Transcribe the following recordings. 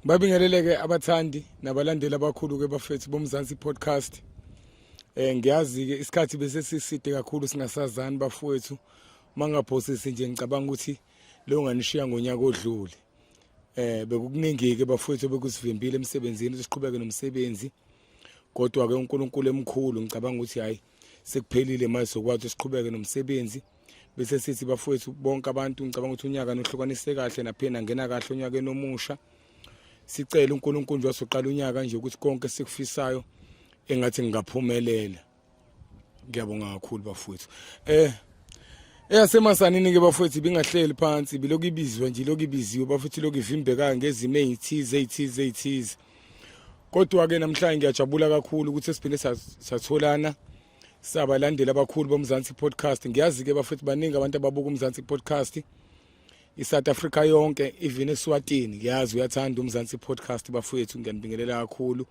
Babingeleleke abathandi nabalandeli abakhulu ke bafethu bomzansi podcast. Eh ngiyazi ke isikhathi bese siside kakhulu singasazani bafowethu. Mangaphosisi nje ngicabanga ukuthi leyo nganishiya ngonyaka odlule. Eh bekukuningi ke bafowethu bekusivimbile emsebenzini siqhubeke nomsebenzi. Kodwa ke uNkulunkulu emkhulu ngicabanga ukuthi hayi sekuphelile manje sokwazi ukuthi siqhubeke nomsebenzi bese sithi bafowethu bonke abantu ngicabanga ukuthi unyaka nohlukanise kahle naphina ngena kahle onyakeni omusha sicela uNkulunkulu nje wasoqala unyaka nje ukuthi konke sikufisayo engathi ngingaphumelela ngiyabonga kakhulu bafowethu eh eyasemasanini ke bafowethu ibingahleli phansi bilokhu ibizwa nje lokhu ibiziwe bafowethu lokhu ivimbeka ngezimo ezithize ezithize ezithize Kodwa-ke namhlanje ngiyajabula kakhulu ukuthi siphinde satholana sabalandeli abakhulu boMzansi Podcast. Ngiyazi-ke bafethu baningi abantu ababuka uMzansi Podcast. ISouth Africa yonke even eSwatini ngiyazi uyathanda uMzansi Podcast bafethu ngiyanibingelela kakhulu.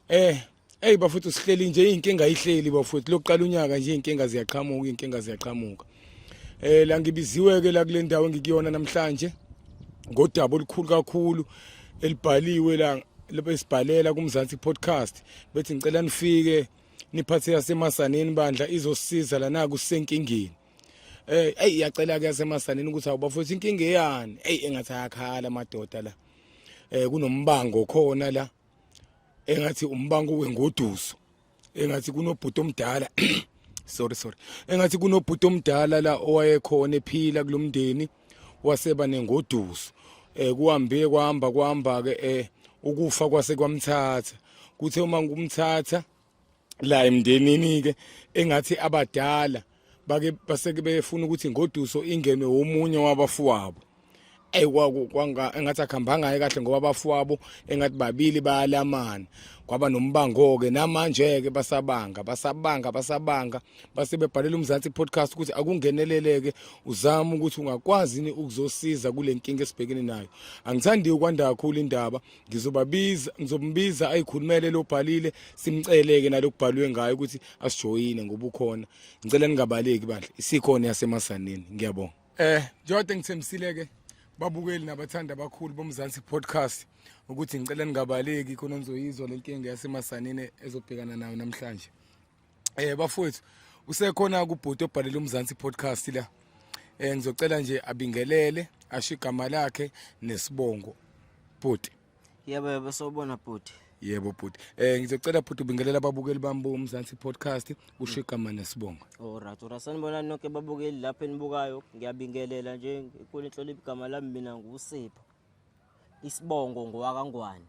Eh Hey bafethu sihleli nje izinkinga ihleli bafethu lokuqala unyaka nje izinkinga ziyaqhamuka izinkinga ziyaqhamuka eh la ngibiziwe ke la kule ndawo engikuyona namhlanje ngodaba olukhulu kakhulu elibhaliwe la lapho esibhalela kumzansi podcast bethi ngicela nifike niphathe yasemasaneni bandla izosiza lana kusenkingeni eh hey yacela ke yasemasaneni ukuthi awubafethu inkinga eyani hey engathi ayakhala amadoda la eh kunombango khona la engathi umbango wengoduso engathi kunobhuti omdala sorry sorry engathi kunobhuti omdala la owayekhona ephila kulomndeni waseba nengoduso eh kuhambe kwahamba kwahamba ke eh ukufa kwase kwamthatha kuthe uma ngumthatha la emndenini ke engathi abadala bake baseke befuna ukuthi ngoduso ingenwe womunye wabafuwabo ey kwanga engathi akhambanga kahle ngoba abafuwabo engathi babili bayalamana kwaba nombango ke namanje ke basabanga basabanga basabanga base bebhalela umzansi podcast ukuthi akungeneleleke uzama ukuthi ungakwazi ni ukuzosiza kulenkinga esibhekene nayo angithandi ukwanda kakhulu indaba ngizobabiza ngizombiza ayikhulumele lobhalile simceleke nalokubhalwe ngayo ukuthi asijoyine ngoba ukhona ngicela ningabaleki bandla isikhona yasemasaneni ngiyabonga eh njengoba ngithembisile ke babukeli nabathanda abakhulu bomzansi podcast ukuthi ngicela ningabaleki khona nizoyizwa lenkinga yasemasaneni ezobhekana nayo namhlanje Eh bafowethu usekhona kubhuti obhalela umzansi podcast la. Eh ngizocela nje abingelele asho igama lakhe nesibongo. Bhuti. Yebo yebo sobona bhuti. Yebo bhuti. Eh ngizocela bhuti ubingelela ababukeli bami bomzansi podcast usho igama nesibongo. Alright, alright. Sanibona nonke babukeli lapha enibukayo. Ngiyabingelela nje kulenhlonipho igama lami mina nguSipho. isibongo ngowakangwane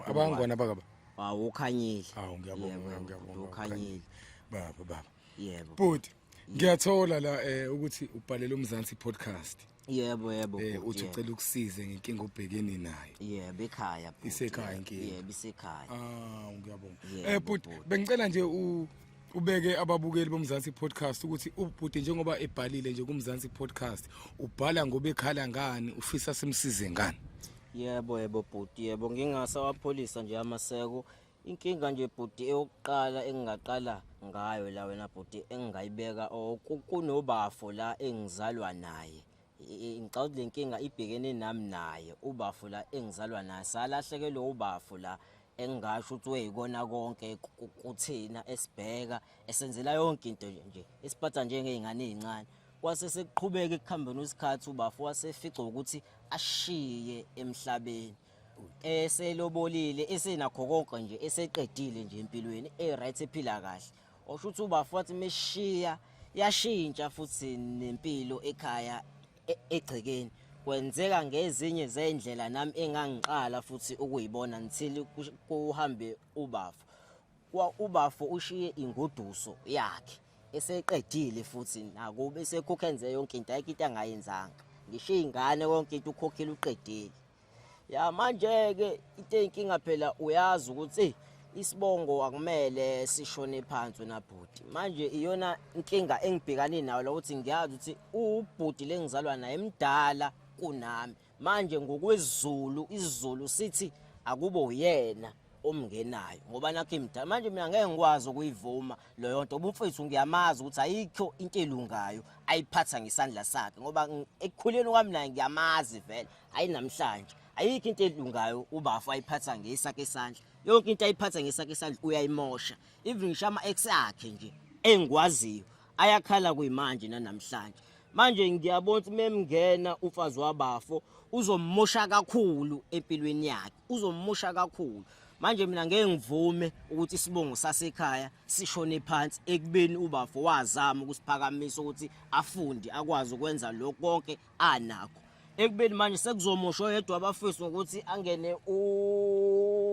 abangwana bakaba hawu ukhanyile hawu ngiyabonga ngiyabonga ukhanyile baba baba yebo bhuti ngiyathola la eh ukuthi ubhalele umzansi podcast yebo yebo eh uthi ucela ukusize ngenkinga obhekene nayo yebo ekhaya bhuti isekhaya inkinga yebo isekhaya ah ngiyabonga eh bhuti bengicela nje u ubeke ababukeli bomzansi podcast ukuthi ubhuti njengoba ebhalile nje kumzansi podcast ubhala ngoba ekhala ngani ufisa simsize ngani yebo yebo bhuti yebo ngingasawapholisa nje amaseko inkinga nje bhuti eyokuqala engingaqala ngayo la wena bhuti engingayibeka kunobafo la engizalwa naye ngicabanga le nkinga ibhekene nami naye ubafo la engizalwa naye salahlekelwe ubafo la engingasho ukuthi weyikona konke kuthina esibheka esenzela yonke into nje isiphatha njengey'ngane ey'ncane kwase sekuqhubeka ekuhambeni isikhathi ubafo wasefica ukuthi ashiye emhlabeni eselobolile esenakho konke nje eseqedile nje empilweni e-right ephila kahle Osho ukuthi ubafo wathi meshiya yashintsha futhi nempilo ekhaya e-, egcekeni. Kwenzeka ngezinye zendlela nami engangiqala futhi ukuyibona until kuhambe ubafo. Kwa ubafo ushiye ingoduso yakhe eseqedile futhi nakube sekukhenze yonke into ayikho into angayenzanga. Ngishiye ingane konke into ukhokhile uqedile. ya manje ke into enkinga phela uyazi ukuthi isibongo akumele sishone phansi wena bhuti manje iyona inkinga engibhekane nayo lokuthi ngiyazi ukuthi ubhuti lengizalwa naye emdala kunami manje ngokwezulu izulu sithi akube uyena omngenayo ngoba nakho imdala manje mina ngeke ngikwazi ukuyivuma leyo nto ubumfethu ngiyamazi ukuthi ayikho into elungayo ayiphatha ngesandla sakhe ngoba ekukhuleni kwami naye ngiyamazi vele hayi namhlanje ayikho into elungayo ubafo ayiphatha ngesakhe isandla yonke into ayiphatha ngesakhe isandla uyayimosha even ngisho ama-ex akhe nje engikwaziyo ayakhala kuyimanje nanamhlanje manje ngiyabona ukuthi memngena umfazi wabafo uzomosha kakhulu empilweni yakhe uzomosha kakhulu manje mina ngeke ngivume ukuthi isibongo sasekhaya sishone phansi ekubeni ubafo wazama ukusiphakamisa ukuthi afunde akwazi ukwenza lokho konke anakho ekubeni manje sekuzomosha oyedwa abafisi ngokuthi angene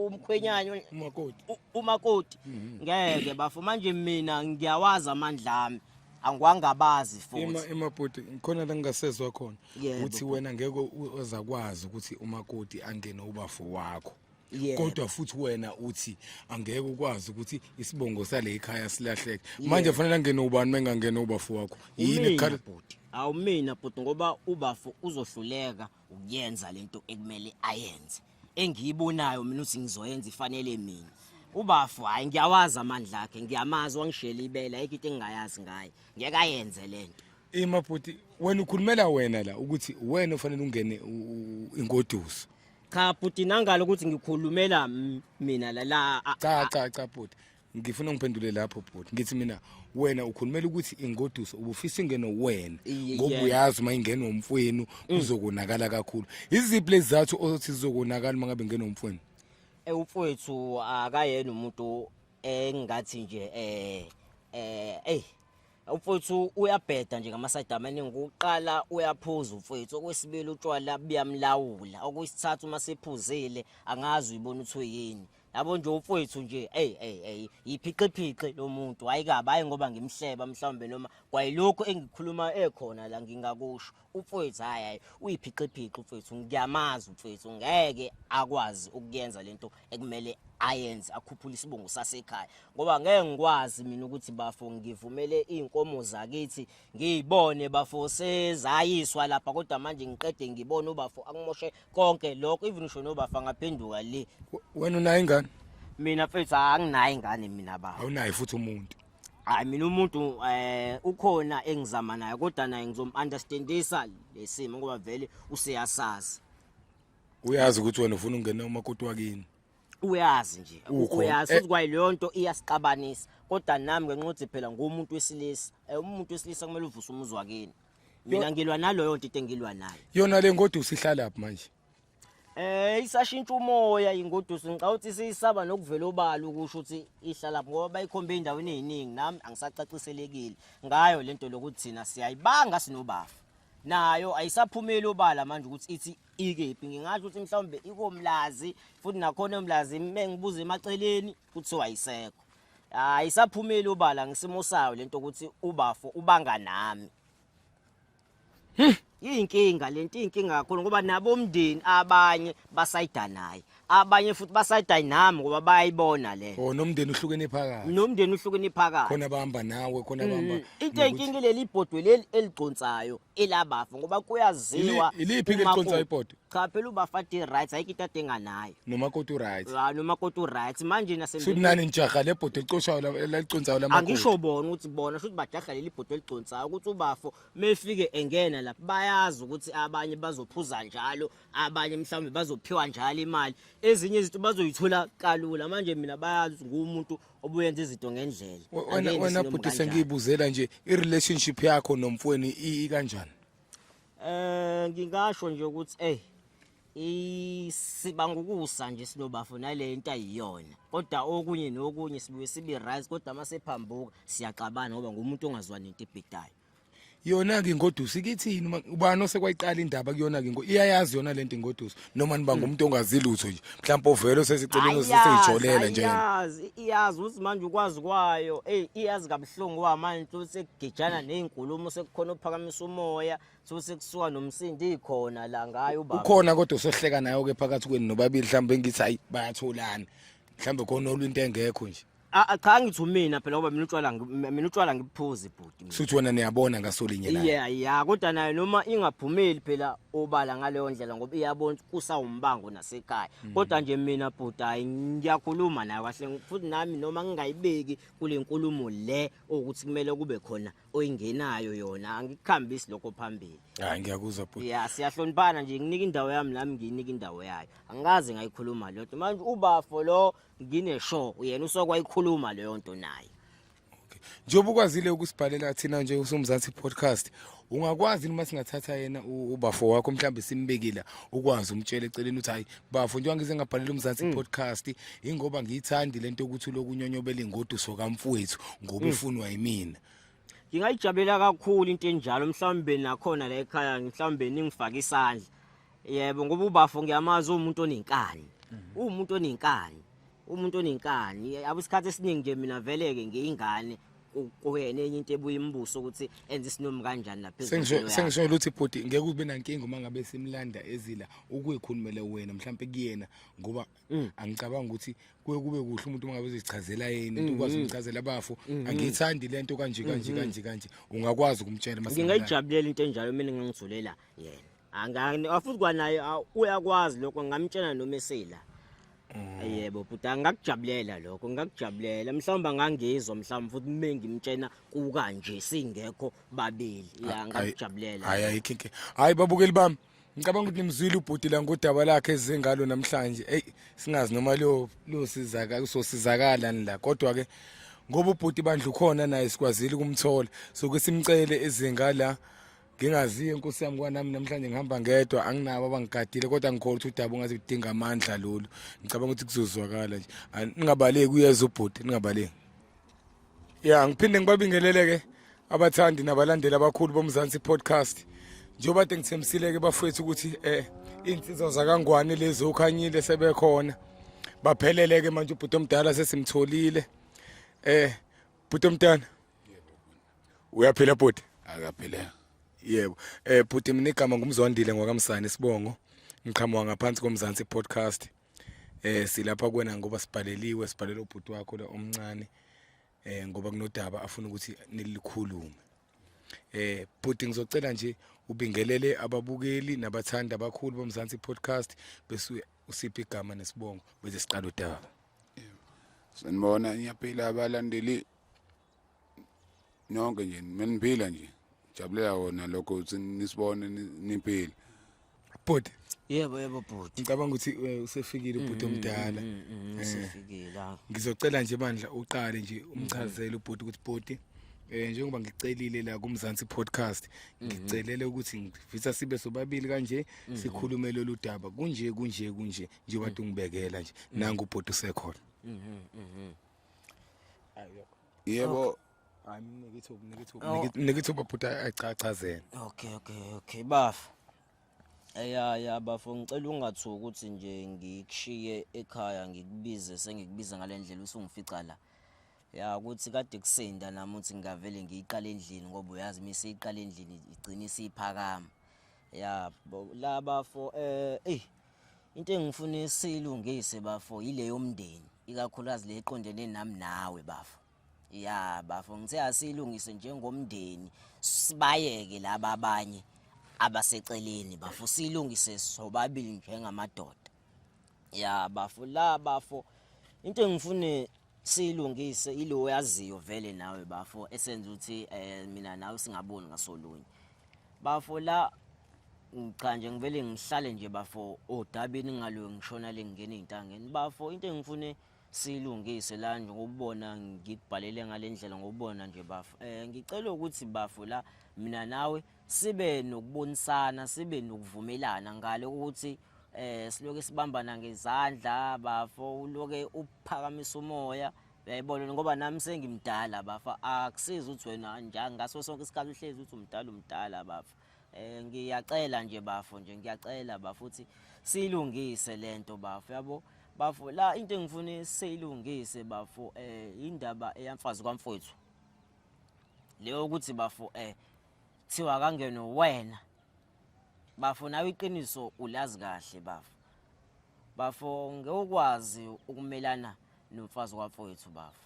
umkhwenyana umakoti umakoti mhm. ngeke bafo manje mina ngiyawazi amandla ami angwangabazi futhi emabhuti khona la ngingasezwa khona ukuthi wena ngeke uzakwazi ukuthi umakoti angene ubafo wakho Yeah. kodwa futhi wena uthi angeke ukwazi ukuthi isibongo sale ikhaya silahleke manje kufanele angene ubani mengangene ubafo wakho yini Umina ekhala bhuti awumina bhuti ngoba ubafo uzohluleka ukuyenza lento ekumele ayenze engiyibonayo mina ukuthi ngizoyenza ifanele mina ubafo hayi ngiyawazi amandla akhe ngiyamazi wangishela ibele ayikho into engingayazi ngaye ngeke ayenze lento ima bhuti wena ukhulumela wena la ukuthi wena ufanele ungene u- u- ingoduso cha bhuti nangalo ukuthi ngikhulumela m- mina la la a- cha cha cha bhuti ngifuna ungiphendule lapho bhuti ngithi mina wena ukhulumela ukuthi ingoduso ubufisa ingeno wena Ye- ngoba yeah. uyazi uma ingena umfwenu kuzokonakala kakhulu iziphi lezizathu othi zizokonakala uma ngabe ingena umfwenu Eh, umfowethu akayena umuntu engathi nje eh eh ey Mfowethu uyabheda nje ngamasayido amaningi ukuqala uyaphuza mfowethu okwesibili utshwala buyamlawula okwesithathu uma sephuzile angazi uyibona ukuthi uyini yabo nje umfowethu nje hey hey hey yiphiqiphiqi lo muntu hayi kabi hayi ngoba ngimhleba mhlawumbe noma kwayilokhu engikhuluma ekhona la ngingakusho umfowethu hayi hayi uyiphixiphixi umfowethu ngiyamazi umfowethu ngeke akwazi ukuyenza lento ekumele ayenze akhuphule isibongo sasekhaya ngoba ngeke ngikwazi mina ukuthi bafo ngivumele izinkomo zakithi ngiyibone bafo sezayiswa lapha kodwa manje ngiqede ngibone ubafo akumoshe konke lokho even usho nobafa ngaphenduka le wena unayo ingane mina mfethu anginayo ingane mina baba awunayo futhi umuntu hayi mina umuntu eh ukhona engizama naye kodwa naye ngizom-understandisa lesimo ngoba vele useyasazi uyazi ukuthi wena ufuna ungena umakoti wakini uyazi nje Ukhona. uyazi Eh. ukuthi kwayi leyo nto iyasixabanisa kodwa nami ngenxa ukuthi phela ngumuntu wesilisa Eh, umuntu wesilisa kumele uvuse umuzi wakini mina ngilwa naloyo nto into engilwa nayo yona le ngodusi ihlalaphi manje Eh isashintsha umoya ingoduso ngicabanga ukuthi siyisaba nokuvela obala ukusho ukuthi ihlala ngoba bayikhombe endaweni eziningi nami angisacaciselekile ngayo lento lokuthi thina siyayibanga sinobafa nayo ayisaphumeli obala manje ukuthi ithi ikephi ngingasho ukuthi mhlawumbe ikomlazi futhi nakhona umlazi mengibuza emaceleni kuthiwa ayisekho ayisaphumeli obala ngisimo sayo lento ukuthi ubafo ubanga nami Iyinkinga lento iyinkinga kakhulu ngoba nabo umndeni abanye basayida naye. Abanye futhi basayida nami ngoba bayayibona le. Oh nomndeni uhlukene phakathi. Nomndeni uhlukene phakathi. Khona bahamba nawe, khona mm, bahamba. Into eyinkinga leli ibhodwe leli eligconsayo elabafa ngoba kuyaziwa. Iliphi ke ligconsayo ibhodwe? cha phela ubafati right ayikho into adinga nayo nomakoti uright Ah, noma kodwa uright manje nase shuthi nani nijaha le bhodi elicoshayo la- eliconsayo lamakoti angisho bona ukuthi bona shuthi bajahla leli bhodo eligconsayo ukuthi ubafo mefike engena lapha bayazi ukuthi abanye bazophuza njalo abanye mhlawumbe bazophiwa njalo imali ezinye izinto bazoyithola kalula manje mina bayazi ukuthi ngumuntu obuyenza izinto ngendlela We- wena- Angeke wena ngisilombe bhuti kanjalo. sengiyibuzela nje i-relationship yakho nomfweni i- ikanjani Eh ngingasho nje ukuthi ey isiba ngokusa nje sinobafo nale into ayiyona kodwa okunye nokunye sibuye sibe right kodwa uma sephambuka siyaxabana ngoba ngumuntu ongazwani into ebhidayo yona-ke ingoduso ikithini ubani osekwayiqala indaba kuyona-ke iyayazi yona le nto ingoduso noma niba ngumuntu ongazi lutho nje mhlawumbe ovele oseseceleni oseseyitholela nje iyazi iyazi uthi manje ukwazi kwayo ey iyazi kabuhlungu wa manje uthi sekugijana nezinkulumo sekukhona ophakamisa umoya so sekusuka nomsindo ikhona la ngayo ubaba ukhona kodwa usohleka nayo ke phakathi kwenu nobabili mhlawumbe ngithi hayi bayatholana mhlawumbe khona olwinto engekho nje A- a- cha ngithi umina phela ngoba mina utshwala ngi- mina utshwala ngibuphuzi bhuti mina. shuthi wena niyabona ngasolinye naye yeah yeah kodwa nayo noma ingaphumeli phela obala ngaleyo ndlela ngoba iyabona ukuthi kusawumbango nasekhaya Mm. kodwa nje mina bhuti hayi ngiyakhuluma nayo kahle futhi nami noma ngingayibeki kule nkulumo le ukuthi kumele kube khona oyingenayo yona angikuhambisi lokho phambili hayi ngiyakuzwa bhuti ya siyahloniphana nje nginika indawo yami nami ngiyinika indawo yayo angikaze ngayikhuluma lodwa manje ubafo lo ngine show uyena usokwa ikhuluma leyo nto naye njengoba ukwazile ukusibhalela thina nje usomzansi podcast ungakwazi noma singathatha yena ubafo wakho mhlawumbe simbekile ukwazi umtshele eceleni ukuthi hayi bafo njengoba ngize ngabhalela umzansi mm. podcast ingoba ngiyithandi lento ukuthi lokunyonyobela ingoduso kamfowethu ngoba mm. ufunwa yimina ngingayijabulela kakhulu into enjalo mhlawumbe nakhona la ekhaya mhlawumbe ningifake isandla yebo ngoba ubafo ngiyamazi umuntu onenkani umuntu onenkani umuntu onenkani yabo isikhathi esiningi nje mina veleke ngiyingane ku- kuyena enye into ebuye imbuso ukuthi enze isinomi kanjani lapha ezweni Sengisho- yakhe. sengisho ukuthi bhuti ngeke ube nankinga uma ngabe simlanda ezila ukuyikhulumele wena mhlawumbe kuyena ngoba Mm. angicabanga ukuthi kuye kube kuhle umuntu uma ngabe uzichazela yena into ukwazi mm-hmm. ukumchazela abafo mm-hmm. angiyithandi le nto kanje kanje mm-hmm. kanje kanje ungakwazi ukumtshela mase ngingayijabulela into enjalo mina ngangithulela yena angani afuthi kwanaye uyakwazi lokho ngamtshela noma esela mm. yebo bhuta ngakujabulela lokho ngakujabulela mhlawumbe angangizwa mhlawumbe futhi uma ngimtshena kukanje singekho babili ya ngakujabulela hayi ayikho inkinga hayi babukeli bami ngicabanga ukuthi nimzwile ubhuti la ngodaba lakhe ezengalo namhlanje eyi singazi noma liyosizakalani la kodwa-ke ngoba ubhuti bandla ukhona naye sikwazile ukumthola soke simcele ezinga la ngingaziyo inkosi yami kwanami namhlanje ngihamba ngedwa anginabo abangigadile kodwa ngikhola ukuthi udaba ungaze udinga amandla lolu ngicabanga ukuthi kuzozwakala nje ningabaleki uyeza ubhuti ningabaleki ya ngiphinde ngibabingelele-ke abathandi nabalandeli abakhulu bomzansi podcast njengoba kade ngithembisile-ke bafowethu ukuthi um iy'nsizwa zakangwane lezi okhanyile sebekhona baphelele-ke manje ubhuti omdala sesimtholile um bhuti omntana uyaphila bhuti akaphilanga yebo um bhuti mina igama ngumzwandile ngwakamsane isibongo ngiqhamuka ngaphansi komzansi podcast eh silapha kuwena ngoba sibhaleliwe sibhalela ubhuti wakho la omncane eh ngoba kunodaba afuna ukuthi nilikhulume eh bhuti ngizocela nje ubingelele ababukeli nabathanda abakhulu bomzansi podcast bese usiphi igama nesibongo bese siqala udaba sanibona ngiyaphila abalandeli nonke nje meniphila nje jabulela wona lokho ukuthi nisibone niphile bhuti yebo yebo bhuti ngicabanga ukuthi eh, usefikile ubhuti mm, mm, omdala mm, eh, usefikile ngizocela nje bandla uqale nje umchazele ubhuti ukuthi bhuti Eh njengoba ngicelile la kumzansi podcast mhm. ngicelele ukuthi ngifisa sibe sobabili kanje mhm. sikhulume lolu daba kunje kunje kunje njengoba mhm. ungibekela nje nangu ubhuti usekhona yebo hayi mnike ithuba mnike ithuba Oh. mnike- mnike ithuba bhuti achachazele okay okay okay bafa ya ya bafo ngicela ungathuki ukuthi nje ngikushiye ekhaya ngikubize sengikubiza ngale ndlela usungifica la ya ukuthi kade kusinda nami ukuthi ngingavele ngiyiqale endlini ngoba uyazi uma isiyiqala endlini igcine isiyiphakama ya bo laba fo eh ey into engifuna isilungise bafo yile yomndeni ikakhulukazi le eqondene nami nawe bafo ya bafo ngithe asilungise njengomndeni sibayeke laba abanye abaseceleni bafo silungise sobabili njengamadoda ya bafo la bafo into engifune silungise ilo oyaziyo vele nawe bafo esenza ukuthi eh mina nawe singaboni ngasolunye bafo la cha nje ngivele ngihlale nje bafo odabini ngalo ngishona lengena izintangeni bafo into engifune silungise la nje ngokubona ngikubhalele ngalendlela ngokubona nje bafo eh ngicela ukuthi bafo la mina nawe sibe nokubonisana sibe nokuvumelana ngale ukuthi eh siloke sibambana ngezandla bafo uloke uphakamisa umoya uyayibona ngoba nami sengimdala bafa akusiza ukuthi wena njalo ngaso sonke isikhathi uhlezi uthi umdala umdala bafa eh ngiyacela nje bafo nje ngiyacela bafo uthi silungise lento bafo yabo bafo la into engifuna seyilungise bafo eh indaba eyamfazi kwamfowethu leyo ukuthi bafo eh thiwa kangeno wena bafo nawe iqiniso ulazi kahle bafo bafo ngewukwazi ukumelana nomfazi wafowethu bafo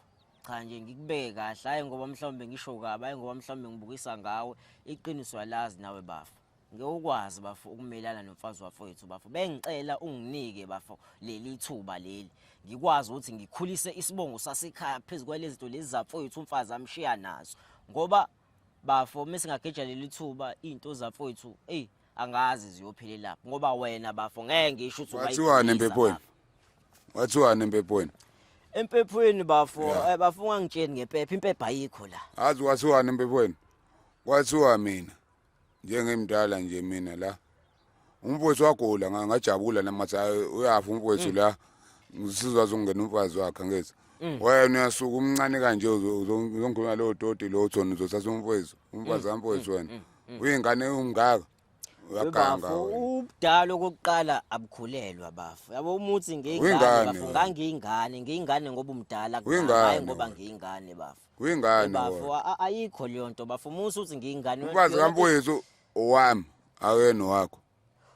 cha nje ngikubeke kahle hayi ngoba mhlawumbe ngisho kabi hayi ngoba mhlawumbe ngibukisa ngawe iqiniso alazi nawe bafo ngewukwazi bafo ukumelana nomfazi wafowethu bafo bengicela unginike bafo leli thuba leli ngikwazi ukuthi ngikhulise isibongo sasekhaya phezu kwalezi zinto lezi zafowethu umfazi amshiya nazo ngoba bafo uma singageja leli thuba into zafowethu eyi angazi ziyophelela ngoba wena bafo ngeke ngisho ukuthi wathiwani empepweni wathiwani empepweni empephweni bafo eh, bafo ungangitsheni ngempepha impepha ayikho la azi wathiwani empepweni kwathiwa mina njengimdala nje mina la umfowethu wagula nga- ngajabula namathi hayi uyafa umfowethu la ngisizwa zokungena umfazi wakhe ngezi wena uyasuka umncane kanje uzo- uzo- uzongikhuluma lowo toti lowo thona uzothatha umfowethu umfazi kamfowethu wena uyingane umngaka uyaganga Bafo, wena ubudala okokuqala abukhulelwa bafo yabo umuthi ngiyingane Uyingane bafo wena. ngangiyingane ngiyingane ngoba umdala Uyingane hayi ngoba wena. ngiyingane bafo Uyingane bafo wona. a- ayikho leyo nto bafo musa uthi ngiyingane wena- Umfazi yona- kamfowethu owami akuyena owakho.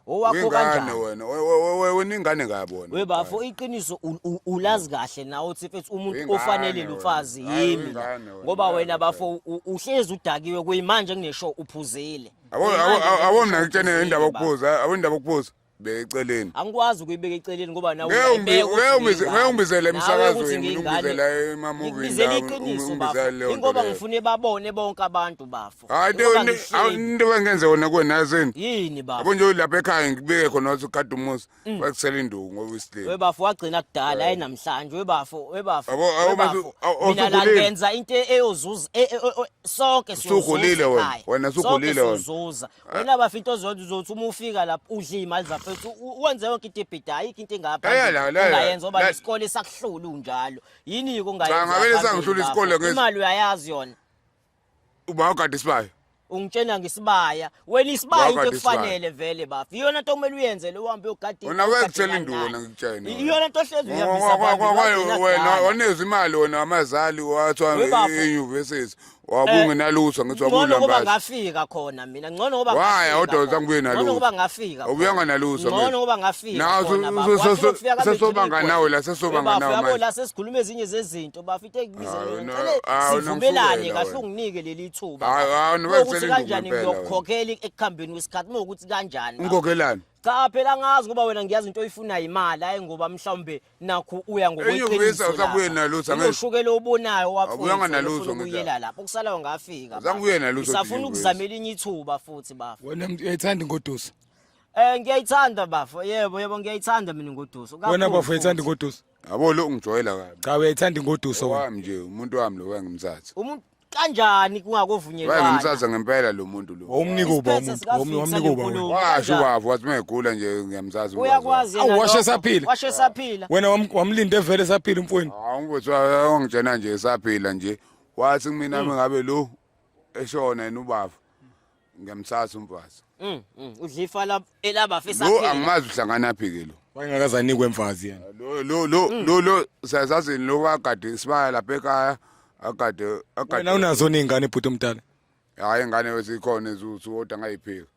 owakho Uyingane kanjani wena. we- we- we- we- Wena ingane kabi wena. we bafo iqiniso u- u- ulazi kahle nawe uthi mfethu umuntu Uyingane ofanele wena. lomfazi Hayi, yimi la. uyingane wena. ngoba wena bafo u- uhlezi udakiwe kuyimanje kuneshow uphuzile Abo Kuyimanje abo- abo kuneshow mina ngitshene uphuzile, indaba bafo. okuphuza, abo indaba okuphuza. beka eceleni angikwazi ukuyibeka eceleni ngoba nawe Ngeke ungibi- uyayibeka ngeke ukuthi ungibize- ngingane. ngeke ungibizele Nawe emsakazweni, ukuthi ngingane. ungibizela emamovini Ngikubizela lawa, iqiniso, ungibizela bafo. leyo nto Ingoba leyo. ngifune babone bonke abantu bafo hayi Ingoba into ngihleli. into bengenze wona kuwena yazini yini bafo yabo nje ulapha ekhaya ngibike khona wathi ukade umuzi wakusela induku ngoba isilile Mm. webafo wagcina kudala hayi namhlanje webafo webafo Abo- abo webafo. basu- awu- mina la awusukhulile. ngenza into eyozuza e- e- e- e- sonke Usukhulile siyozuza wena, ekhaya. wena usukhulile Sonke wena. siyozuza wena bafita ozonda uzothi uma ufika lapho udla iy'mali zafethu u- wenze yonke into ebhida ayikho into engapha Eya, la, la, ongayenza oba la. isikole sakuhlula unjalo yini-ke Cha, ongayenza ngavele phambili sangihlula lapho? isikole ngithi- imali uyayazi yona uba ugade isibaya ungitshena ngesibaya wena isibaya Wakade into isibaya. ekufanele vele bafi iyona nto kumele uyenze le uhambe uyogada Wena iy'mali, wekutshela ugade induna, ingane. ngikutshena. I- iyona nto hlezi uyihambisa phambili, wagcina wena kudala. waneza imali wena wamazali wathiwa We bafo. enyuvesithi wabungenalutho ngithi ngcono ngoba wabunambazi ngafika khona mina ngcono ngoba Waya, ngafika kodwa khona. zangibuye nalutho. Ngcono ngoba ngafika khona. Awubuyanga nalutho, ngcono mfethu. ngoba ngafika Nawe khona, su- bafo. su- Wathi su- ukufika kabe sesobanga ngigcine nawe la, igoli. sesobanga Bafo, nawe yabo, manje. la sesikhuluma ezinye zezinto bafo into engibize Hawu, yona. no, Ngicele hawu, sivumelane nomsukela kahle wena. unginike leli thuba Hawu, hawu, noba Uma ukuthi kusele induku kanjani ngempela wena. ngiyokukhokhela ekuhambeni kwesikhathi uma ukuthi kanjani bafo. ungikhokelani cha phela ngazi ngoba wena ngiyazi into oyifunayo imali hayi ngoba mhlawumbe nakhu uya ngokweqinisoshukela obonayo wafuuyela lapho kusalayo ngafika safuna ukuzama elinye ithuba futhi bafo wena uyayithanda ingoduso um ngiyayithanda bafo yebo yebo ngiyayithanda mina ingoduso wena bafo uyayithanda ingoduso yabo lo ungijwayela kabi cha uyayithanda ingoduso wami nje umuntu wami lo wengimthatha kanjani kungakovunyelwana wayengimsaza ngempela lo muntu lo wawumnika uba umuntu wawumnika uba wena washo ubaba wathi mengigula nje ngiyamzazi uyakwazi awu washo esaphila washo esaphila wena wamlinde vele esaphila umfweni hawu mfowethu wayongitshena nje esaphila nje wathi kumina hmm. mengabe lo eshona yena ubaba ngiyamsasa umfazi Mm, mm. Udlifa la elaba fisa lo phela. angimazi uhlangana phi ke lo wayengakazanikwe mfazi yena lo lo lo Mm. lo lo siyazazini lo wakade isibaya lapha ekhaya akade wena akade unazo ningane bhuti omdala hayi ngane wesikhona ezuthi kodwa ngayiphika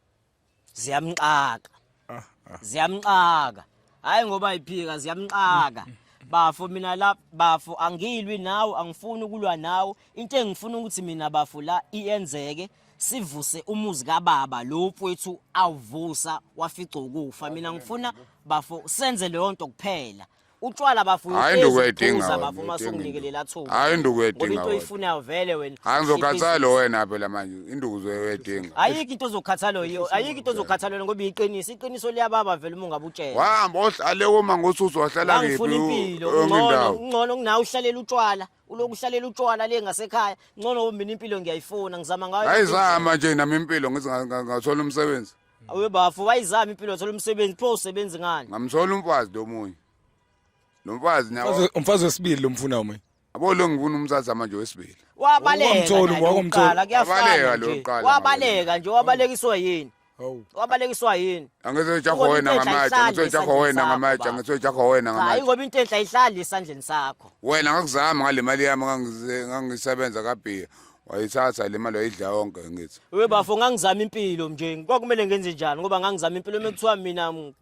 Ziyamxaka. Ah, ah. ziyamxaka hayi ngoba iphika ziyamxaka bafo mina la bafo angilwi nawe angifuni ukulwa nawe into engifuna ukuthi mina bafo la iyenzeke sivuse umuzi kababa lo mfowethu awuvusa wafica ukufa mina ngifuna bafo senze leyo nto kuphela utshwala bafuna Hayi, into ukuphuza, uyidinga wena, bafuna uma uyidinga sunginikelele into. athuba Hayi, into ngoba uyidinga into wena. oyifunayo vele wena Hayi ngizokhathala Shiphi- wena phela manje induku uzoyedinga. ayikho into ozokhathalwa yiyo ayikho into ozokhathalwa yona ngoba iyiqiniso iqiniso liyababa vele uma ungabe utshela Wahamba ohlale uma ngosusu wahlala kephi angifuna impilo enye ungcono indawo. ungcono kunawe uhlalela utshwala uloku uhlalela utshwala le ngasekhaya ngcono mina impilo ngiyayifuna ngizama ngayo Hayi yonke indlela. zama nje nami impilo ngithi nga- nga- ngathola umsebenzi. Awe bafo wayizama impilo wathola umsebenzi pho usebenzi ngani? Ngamthola umfazi lomunye. Nomfazi nawo. Mfazi- umfazi wesibili lomfuna uma Abo lo ngifuna umthatha manje wesibili. Wabaleka. Wakumthola, naye wakumthola. lokuqala, kuyafana Wabaleka nje. lokuqala, Wabaleka nje wabalekiswa yini? hawu Wabalekiswa yini? Angizojaho Ngoba wena impetha ngamatshe, ayihlali angizojaho esandleni wena sakho, ngamatshe, baba. angizojaho wena Cha, ngamatshe. ingoba into enhle ayihlali esandleni sakho. Wena ngakuzama ngale mali yami ngangize- ngangisebenza kabhiya. wayithatha le mali wayidla yonke ngithi we bafo ngangizama impilo nje kwakumele ngenze njani ngoba ngangizama impilo uma kuthiwa mina uma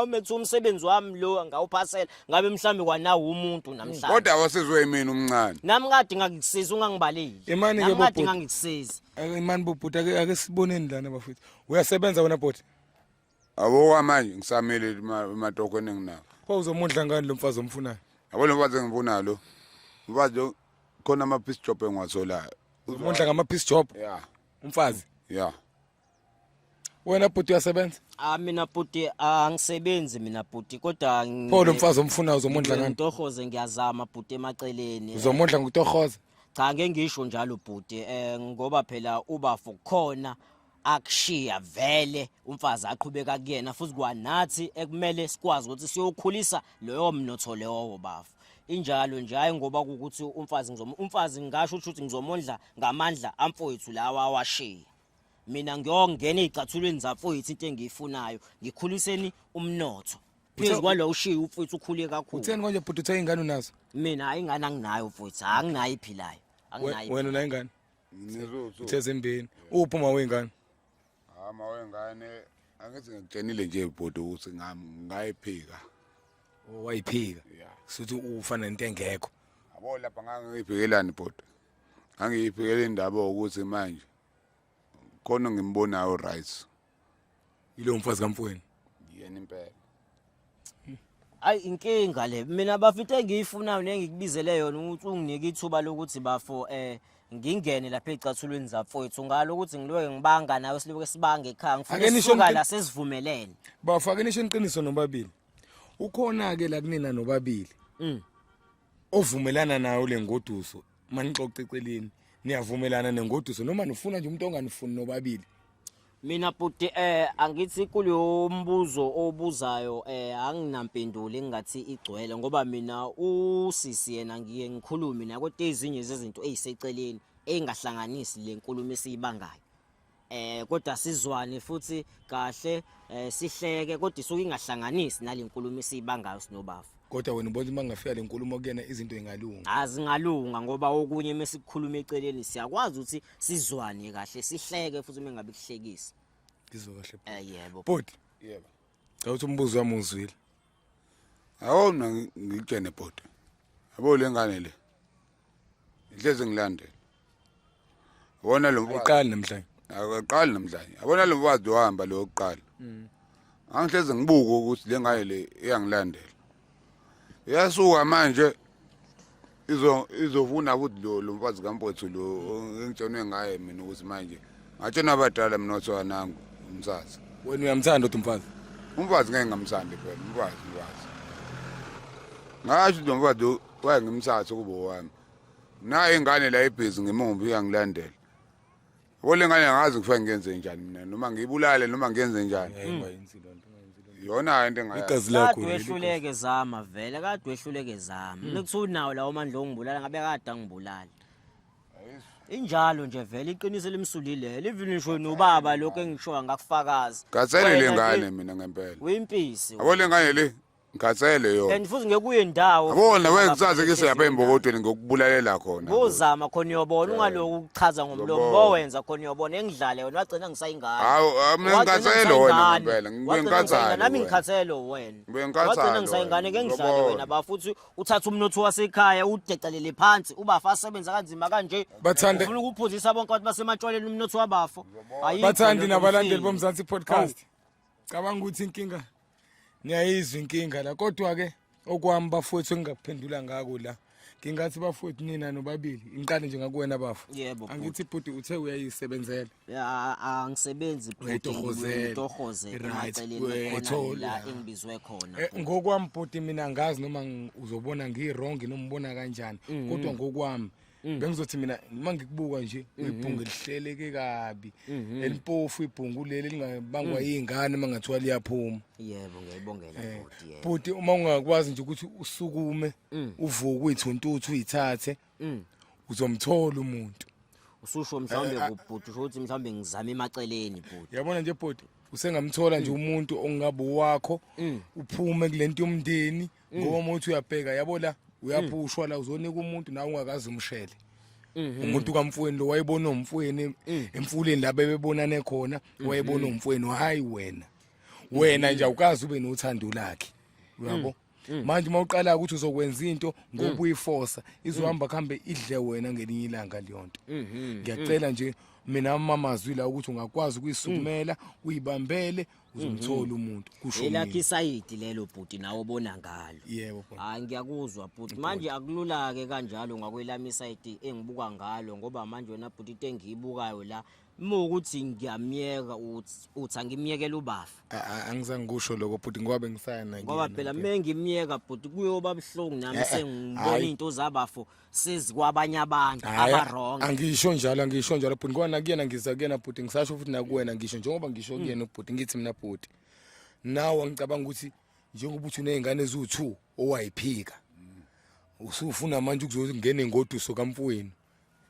kuthiwa umsebenzi wami lo ngawuphasela ngabe mhlawumbe kwanawo umuntu namhlanje kodwa wasizwe yimina umncane nami kade ngangikusiza ungangibaleli imani ke kade ngangikusiza imani bobhuti ake ake siboneni lana bafethu uyasebenza wena bhuti Awoka manje ngisamele imatokho eninginawo. Pho uzomudla ngani lo mfazi omfunayo? Yabo lo mfazi engifunayo lo. Mfazi lo khona ama piece job engiwatholayo. Uzomudla ngama piece job. Yeah. Umfazi. Yeah. Wena bhuti uyasebenza? Ah mina bhuti angisebenzi mina bhuti kodwa Pho lo mfazi omfunayo uzomudla ngani? Ntohoze ngiyazama bhuti emaceleni. Uzomudla ngokutohoza? Cha ngeke ngisho njalo bhuti eh ngoba phela ubafo khona akushiya vele umfazi aqhubeka kuyena futhi kwanathi ekumele sikwazi ukuthi siyokhulisa loyo mnotho lewo bafo injalo nje hayi ngoba ukuthi umfazi ngizom umfazi ngasho ukuthi ngizomondla ngamandla amfowethu lawa awashiya mina ngiyongena ezicathulweni zamfowethu into engiyifunayo ngikhuliseni umnotho phezu kwalowo ushiya umfowethu ukhule kakhulu utheni konje bhuti uthe ingane unazo mina hayi ingane anginayo mfowethu anginayo iphilayo anginayo wena unayingane ngithe zimbini uphi uma wengane ama ah, wengane angithi ngikutshenile nje bhuti ukuthi ngayiphika oh, wayiphika suthi ufana nento engekho yabo lapha ngangiyiphikelani bhuti ngangiyiphikela indaba ukuthi manje khona ngimbonayo right Yilo mfazi kamfweni. Yena impela. Ayi inkinga le. Mina bafite engiyifunayo nengikubizele yona ukuthi unginike ithuba lokuthi bafo eh ngingene lapha ezicathulweni zafowethu ngalo ukuthi ngiloke ngibanga nawe siloke sibanga ekhaya Ake ngifuna nisho sisuka ngi- la sesivumelene. Bafake nisho iqiniso nobabili. Ukhona ke la kunina nobabili. Mm. Ovumelana nayo lengoduso uma nixoxa eceleni niyavumelana nengoduso noma nifuna nje umuntu onganifuni nobabili mina bhuti eh angithi kuleyo mbuzo obuzayo eh anginampendulo engathi igcwele ngoba mina usisi yena ngiye ngikhulume nakote ezinye zezinto eziseceleni engahlanganisi lenkulumo esiyibangayo eh kodwa sizwane futhi kahle eh sihleke kodwa isuke ingahlanganisi nalenkulumo isibangayo sinobafu kodwa wena ubona uma ngafika lenkulumo kuyena izinto ingalunga azingalunga ngoba okunye mesikukhuluma eceleni siyakwazi ukuthi sizwane kahle sihleke futhi uma ngabe kuhlekisa ngizwe kahle eh yebo bhuti yebo cha uthi umbuzo wami uzwile Awu mina ngikutshene bhuti. Yabo le ngane le. Ihleze ngilandela. Wona lo uqali namhlanje. Akaqali namhlanje. Yabona lo mfazi ohamba lo oqala. Mm. Angihleze ngibuke ukuthi le ngane le iyangilandela. Yasuka manje izovuna ukuthi lo lo mfazi kampothu lo engitshenwe ngaye mina ukuthi manje ngatshena abadala mina othiwa nangu umsazi wena uyamthanda uthi umfazi umfazi ngeke ngamthandi phela umfazi umfazi ngasho lo mfazi waye ngimthathe kubo wami naye ingane la ebhizi ngimumbi uyangilandela Yabo le ngane angazi kuthiwa ngenze njani mina noma ngiyibulale noma ngenze njani. Yona into engayazi. Igazi lakho. Kade wehluleke zama vele, kade wehluleke zama. Nikuthiwa unawo lawo mandla ongibulala ngabe kade angibulali. Injalo nje vele iqiniso elimsulile. Livini ngisho nobaba lokho engishoya ngakufakaza. Gatsele le Wena ngane nje mina ngempela. Uyimpisi. Yabo le ngane le ngikhathele yona and futhi ngekuye ndawo abona wena kusaze ke siyapha embokodweni ngokubulalela khona ngozama khona uyobona ungaloku ukuchaza ngomlomo bowenza khona uyobona engidlale wena wagcina ngisayingane hawu mina ngikhathele wena ngempela ngibuye ngikhathele nami ngikhathele wena ngibuye ngikhathele wagcina ngisayingane ke ngidlale wena ba futhi uthatha umnotho wasekhaya udecelele phansi ubafa asebenza kanzima kanje bathande ufuna ukuphuzisa bonke abantu basematshwaleni umnotho wabafo bathandi nabalandeli bomzansi podcast cabanga ukuthi inkinga ngiyayizwa inkinga la kodwa ke okwami bafowethu engingakuphendula ngako la ngingathi bafowethu nina nobabili ngiqale nje ngakuwena bafo yebo angithi bhuti uthe uyayisebenzela angisebenzi bhutitorhozela engibizwe khona eh, ngokwami bhuti mina ngazi noma uzobona ngiwrong noma ubona kanjani mm-hmm. kodwa ngokwami Mm. bengizothi mina uma ngikubuka nje mm-hmm. ibhungu elihleleke kabi mm-hmm. elimpofu ibhungu leli lingabangwa mm. izingane mangathiwa liyaphuma yebo ngiyayibongela eh, bhuti yebo bhuti uma ungakwazi nje ukuthi usukume mm. uvuke uyithuntuthu uyithathe uzomthola umuntu ususho mhlawumbe eh, kubhuti usho ukuthi mhlawumbe ngizame emaceleni bhuti yabona nje bhuti usengamthola nje umuntu ongabe wakho uphume kulento yomndeni ngoba uma uthi uyabheka yabo la uyaphushwa la uzonika umuntu nawe ungakazi umshele Mhm. umuntu kamfweni lo wayebona umfweni Mm. emfuleni la bebebonane khona Mhm. wayebona umfweni hayi wena wena nje awukazi ube nothando lakhe Mm. uyabo manje uma uqala ukuthi uzokwenza into ngokuyifosa izohamba kuhambe idle wena ngelinye ilanga leyo nto Mhm. ngiyacela nje mina amamazwi la ukuthi ungakwazi ukuyisukumela uyibambele uzomthola umuntu kusho mina. elakhe isayidi lelo bhuti nawe obona ngalo yebo bhuti hayi ngiyakuzwa bhuti manje akulula-ke kanjalo ngakwelami isayidi engibuka ngalo ngoba manje wena bhuti into engiyibukayo la uma ukuthi ngiyamyeka uthi- uthi angimyekela ubafa A- a- angizange kusho lokho bhuti ngoba bengisaya nakuyena ngoba phela uma ngimyeka bhuti kuyoba buhlungu nami Eh, eh, sengimbona hhayi. iy'nto zabafo sizi kwabanye abantu Hhayi, abaronge angisho njalo angisho njalo bhuti ngoba nakuyena ngiza kuyena bhuti ngisasho futhi nakuwena ngisho njengoba ngisho kuyena ubhuti ngithi mina bhuti nawe ngicabanga ukuthi njengoba uthi uney'ngane eziwu-two owayiphika usufuna manje ukuzongena engoduso kamfowenu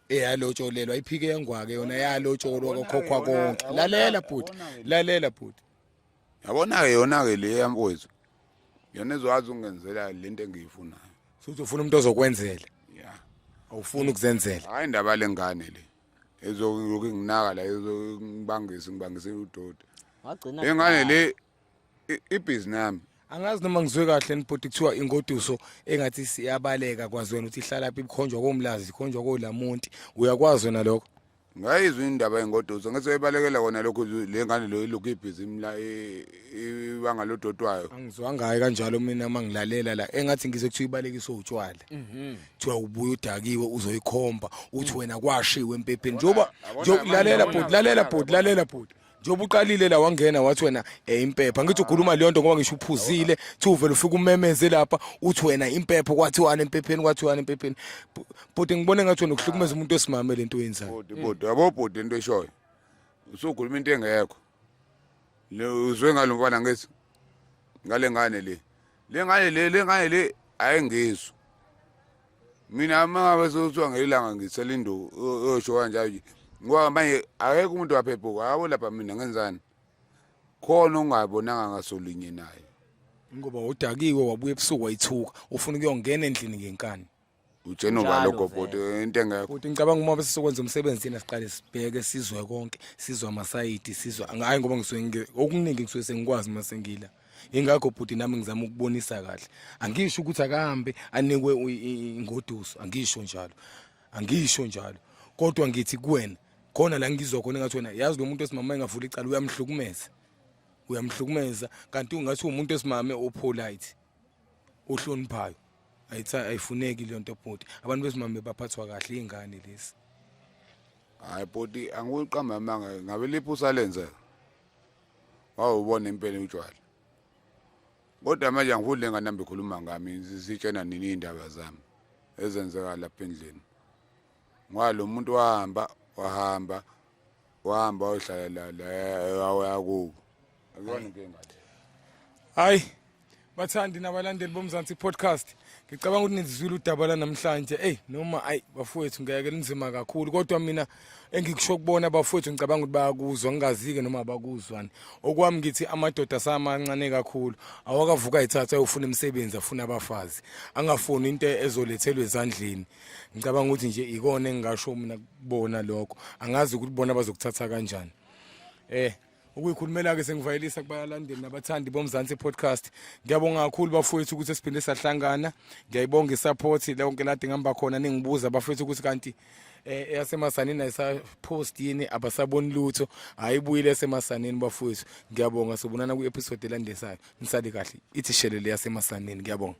eyalotsholelwa iphike yangwake yona yalotsholwa kokhokhwa konke lalela bhuti lalela bhuti yabona-ke yona-ke le yamfowethu yona ezokwazi ukungenzela le nto engiyifunayo futhi ufuna umuntu ozokwenzela ya awufuni ukuzenzela hhayi indaba le ngane le ezokuyokhu inginaka la ezongibangisa ngibangise udoti wagcina le ngane le i- ibhizi nami angazi noma ngizwe kahle nibhuti kuthiwa ingoduso engathi siyabaleka kwazi wena ukuthi ihlalaphi ikhonjwa komlazi ikhonjwa kolamonti uyakwazi wena lokho ngayizwa indaba yengoduso ngesebalekela kona lokhu le ngane lo ilokhu ibhizimu la i- i- ibanga lodotwayo angizwangayo kanjalo mina uma ngilalela la engathi ngizwe kuthiwa ibalekiswe utshwala kuthiwa ubuye udakiwe uzoyikhomba uthi wena kwashiwe empepheni njengoba Yabona nje- manje lalela nabona bhuti lalela abantu bhuti lalela bhuti njengoba uqalile la wangena wathi wena eh, impepha ngithi ukhuluma leyo nto ngoba ngisho uphuzile thi uvele ufike umemeze lapha uthi wena impepha kwathiwani empepheni kwathiwani empepheni Bu- bhuti ngibone ngathi wena ukuhlukumeza umuntu osimame le nto oyenzayo bhuti bhuti yabo bhuti into eshoyo usukhuluma into engekho Le- uzwe ngalo mfana ngithi ngale ngane le le ngale le le ngale le ayengizwa mina uma ngabe sekuthiwa ngelanga ngithela induku yosho kanjalo nje ngoba manje akekho umuntu waphephuka hawo lapha mina ngenzani khona ongabonanga ngasolinye naye ngoba udakiwe wabuya ebusuku wayithuka ufuna ukuyongena endlini ngenkani ujeno Njalo baloko vele. bhuti into engekho Bhuti ngicabanga uma bese sokwenza umsebenzi thina siqale sibheke sizwe konke sizwa amasayidi sizwa hayi ngoba ngisuke ngi- okuningi ngisuke sengikwazi uma sengila ingakho bhuti nami ngizama ukubonisa kahle angisho ukuthi akahambe anikwe u- i- i- ingoduso angisho njalo angisho njalo kodwa ngithi kuwena khona la ngizwa khona engathi wena yazi lo muntu esimama engavula icala uyamhlukumeza uyamhlukumeza kanti ungathi umuntu esimame opolite ohloniphayo ayithi ayifuneki le nto bhuti abantu besimame baphathwa kahle iy'ngane lezi hayi bhuti angiwuqamba amanga ngabe liphi usalenze wawubona impela utshwala kodwa manje angifuni le ngane nami ikhuluma ngami zitshena nini iy'ndaba zami ezenzeka lapha endlini ngoba lo muntu wahamba wahamba wahamba wayohlala la wayakubo akuyona inkinga hayi bathandi nabalandeli bomzansi podcast ngicabanga ukuthi nizizwile udaba lanamhlanje eyi noma ayi bafowethu ngeke linzima kakhulu kodwa mina engikusho kubona bafowethu ngicabanga ukuthi bayakuzwa ngingazike noma abakuzwani okwami ngithi amadoda asamancane kakhulu awakavuka ayithatha ayofuna imisebenzi afuna abafazi angafuni into ezolethelwa ezandleni ngicabanga ukuthi nje ikona engingasho mina kubona lokho angazi ukuthi bona bazokuthatha kanjani eh ukuyikhulumela-ke sengivayelisa kubalandeli nabathandi bomzansi podcast ngiyabonga kakhulu bafowethu ukuthi siphinde sahlangana ngiyayibonga isaphothi lonke lade ngihamba khona ningibuza bafowethu ukuthi kanti eh yasemasanini ayisapost yini abasaboni lutho ayibuyile esemasanini bafowethu ngiyabonga sobonana kwi-episode elandesayo nisale kahle ithi shelele yasemasanini ngiyabonga